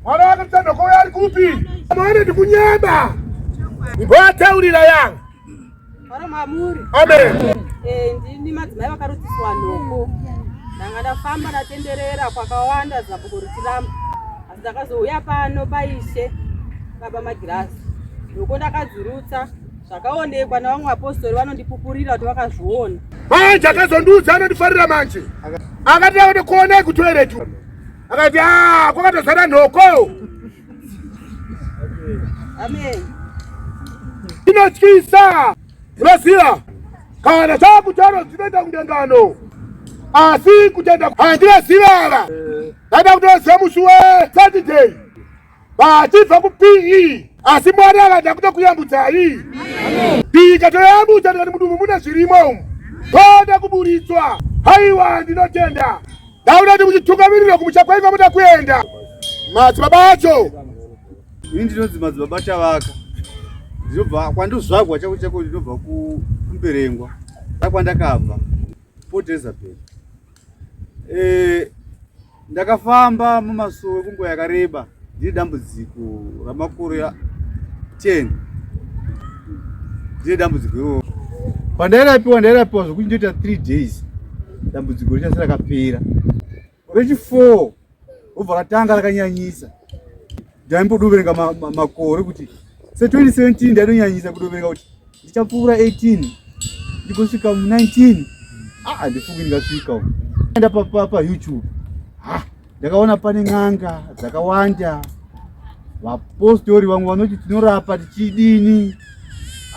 Mwana wake mtanda kwa yari kupi? Mwana ni kunyeba. Ngoa taurira yang. Ora mamuri. Amen. Eh ndini madzimai vakarudziswa nhoko. Ndanga ndafamba ndatenderera kwakawanda zabuko rutiramba. Asi ndakazouya pano paishe baba magirazi. Nhoko ndakadzirutsa zvakaonekwa navamwe vapostori vanondipupurira kuti vakazviona. Manje akazondiudza anondifarira manje. Akati aone kuona kutoiretu. akati ah, kwakatozara nhoko inotyisa unoziva kana chakutaro dzinoita kundengano asi kutenda handina zivava ndada kutoziva musi we saturday vachibva kupii asi mwari avada kuda kuyambudzai pii ikatoyambudza tikati mudumbu mune zvirimo umu toda kuburitswa haiwa ndinotenda ndauda kuti muchitungamirira kumusha kwainga muda kuenda madzibaba acho ini ndinonzi madzibaba chavaka ndinobva kwandozvagwa chako chako ndinobva kumberengwa akwandakabva port elizabeth eh, Ndakafamba mumasowe kunguva yakareba ndiri dambudziko ramakore 10 ndiri dambudziko iroro. Pandairapiwa ndairapiwa zvokuti ndoita 3 days dambudziko richasi rakapera. Rechi 4 robva ratanga rakanyanyisa. ndaimbodoverenga makore kuti se 2017 ndaidonyanyisa kudoverenga kuti ndichapfuura 18 ndikosvika mu 19 aa ah, ndifungi ndingasvika u enda payoutube ha ndakaona pane n'anga dzakawanda vapostori vamwe vanoti tinorapa tichidini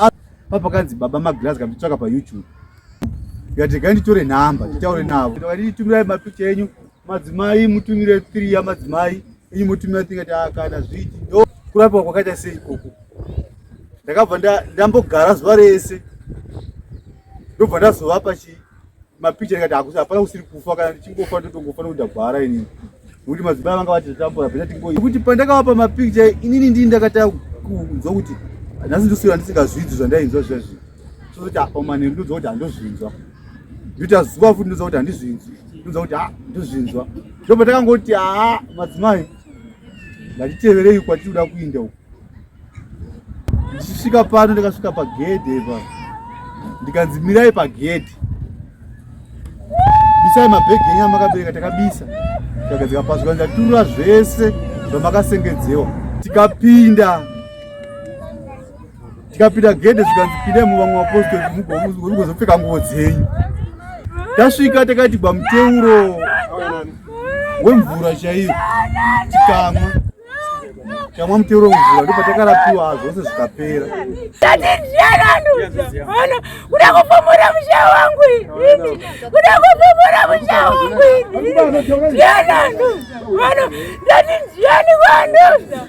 ah, papakanzi baba magirazi kanditsvaka payoutube ndikati regai nditore nhamba nditaure navo ndikati nditumirai mapicha enyu madzimai mutumire three yamadzimai inyi mutumira tingati ah, kana zviti ndo kurapiwa kwakaita sei ikoko ndakabva ndambogara zuva rese ndobva ndazovapa chi mapicha ndikati hakusi hapana kusiri kufa kana ndichingofa ndotongofa nokuti ndagwara inini nokuti madzimai vanga vati zvatambura pena tingoikuti pandakavapa mapicha inini ndii ndakatanga kunzwa kuti nhasi ndosira ndisingazvinzwi zvandainzwa zviya zvinhu sozoti apa manheru ndonzwa kuti handozvinzwa ndoita zuva futi ndoza kuti handizvinzwi ndoza kuti ha ndozvinzwa ndopa takangoti haa madzimai ndatiteverei kwatiri kuda kuinda uku ndichisvika pano ndikasvika pagedhe pa ndikanzi mirai pagedhe bisai mabhegi enyu amakabereka takabisa takadzika pasi kanzi aturura zvese zvamakasengedzewa tikapinda tikapinda gede zvikanzi pindemo vamwe vapostori mugozopfeka nguvo dzenyu tasvika takati bamuteuro wemvura chaiyo tikamwa tamwa muteuro wemvura ndipo takarapiwa zvose zvikapera kuda kufumura musha wangu ini kuda kufumura musha wangu ini ndiananu vano ndati ndiani vanhu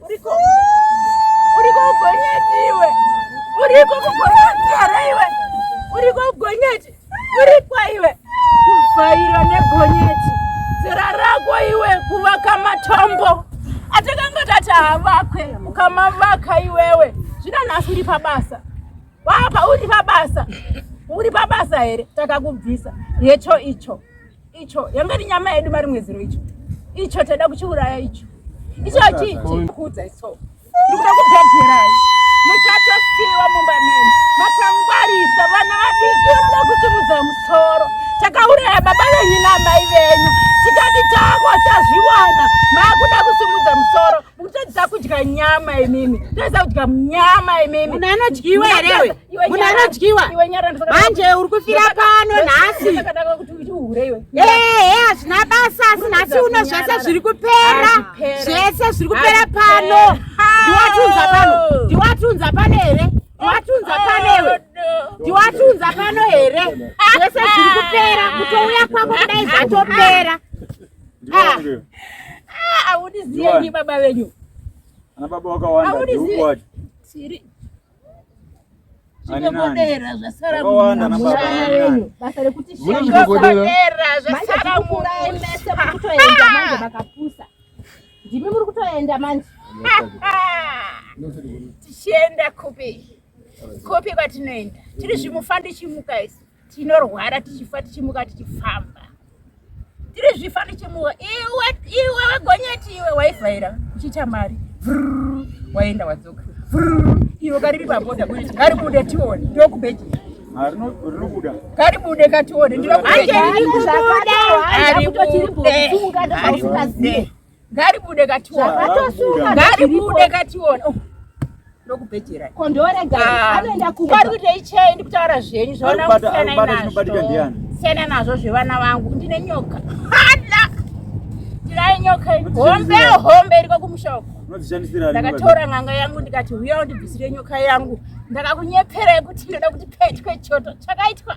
Uriko uriko ugonyeti iwe. Uriko kugonyeti here iwe. Uriko ugonyeti. Uriko iwe. Kuvhaira negonyeti. Zera rako iwe kuvaka matombo. Atakanga tati havakwe ukamavaka iwewe. Zvino nhasi uri pabasa. Wapa uri pabasa. Uri pabasa here takakubvisa. Yecho icho. icho yanga iri nyama yedu mari mwezero icho icho taida kuchiuraya icho icho achiikuudza iso ndikuda kubhadherai muchatosiwa mumba menu makangwarisa vana vadiki vanoda kutimudza musoro takauraya baba venyu namai venyu tikati tako tazviwana maakuda kusimudza musoro mukutadzisa kudya nyama imimi toisa kudya nyama imimi munhu anodyiwa here Muna anodyiwa manje uri kufira pano nhasi ehe hazvina basa asi nhasi uno zvese zviri kupera zvese zviri kupera pano ndiwatiunza pano ndiwatiunza pano here ndiwatiunza pano iwe ndiwatiunza pano here zvese zviri kupera kutouya kwako kudai zvatopera aundiziyenyi baba venyu ana baba wakawanda ndiukwati zvinogodera zvasara basa rekuti zvinogodera zvasara murai mese muri kutoenda manje makapusa ndimi muri kutoenda manje tichienda kupi kupi kwatinoenda tiri zvimufandichimuka isu tinorwara tichifa tichimuka tichifamba tiri zvifa tichimuka iwe iwe wegonyeti iwe waivhaira uchiita mari waenda wadzoka iwe kariri paboda kuti ngari kude tione ndokubeji karibude katione ndinokubeji ngaribude kationa ngaribude kationa oh, ndokubhejera kondorega ah, anoenda kumba ari kuitei chei ndikutaura zvenyu zvaona kusiyanai nazvo siyana nazvo zvevana vangu ndine nyoka hada ndirai nyoka hombe hombe iriko kumusha uko ndakatora n'anga yangu ndikati huya undibvisire nyoka yangu ndakakunyepera yekuti ndoda kuti petwe choto chakaitwa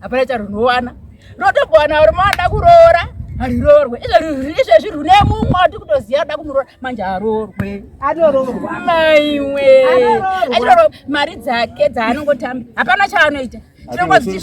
hapana charinowana rotogowana uri maada kuroora hariroorwe izvezvi rune mumwe wati kutoziva ada kumuroora manje haroorwe atoroorwa maiwe achiroro mari dzake dzaanongotamba hapana chaanoita chinongoziv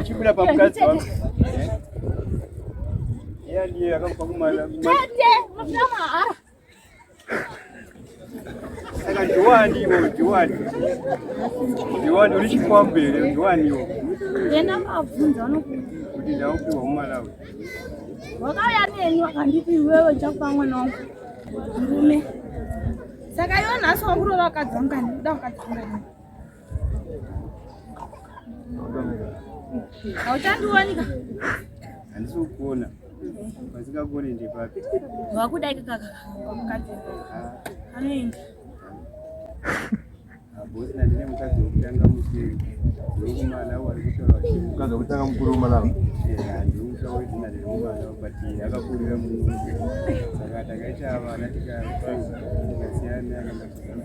Uchibira pa mkadzi wangu. Yeye ndiye akakupa kumala. Tete, mfuna mahara. Saka ndiwani iwo, ndiwani. Ndiwani uri chikwambere, ndiwani iwo. Yena mabvunza anokuti ndaupiwa mumalawi. Wakauya neni wakanditi iwewe chakupa mwana wangu. Murume. Saka iwe nhasi wakurora wakadzangani, uda wakadzangani. Hauchandiwanika. Handisi kukuona. Pasikakuone ndepapi? Wakuda ikaka. Mukadzi. Anoenda. Bosi na ndine mukadzi wekutanga mukuru. Wekumana wari kutaura. Mukadzi wekutanga mukuru wemalawa. Yeah, ndikutaura kuti ndine mwana but akakurira munhu. Saka takaita vana tikasiyana kana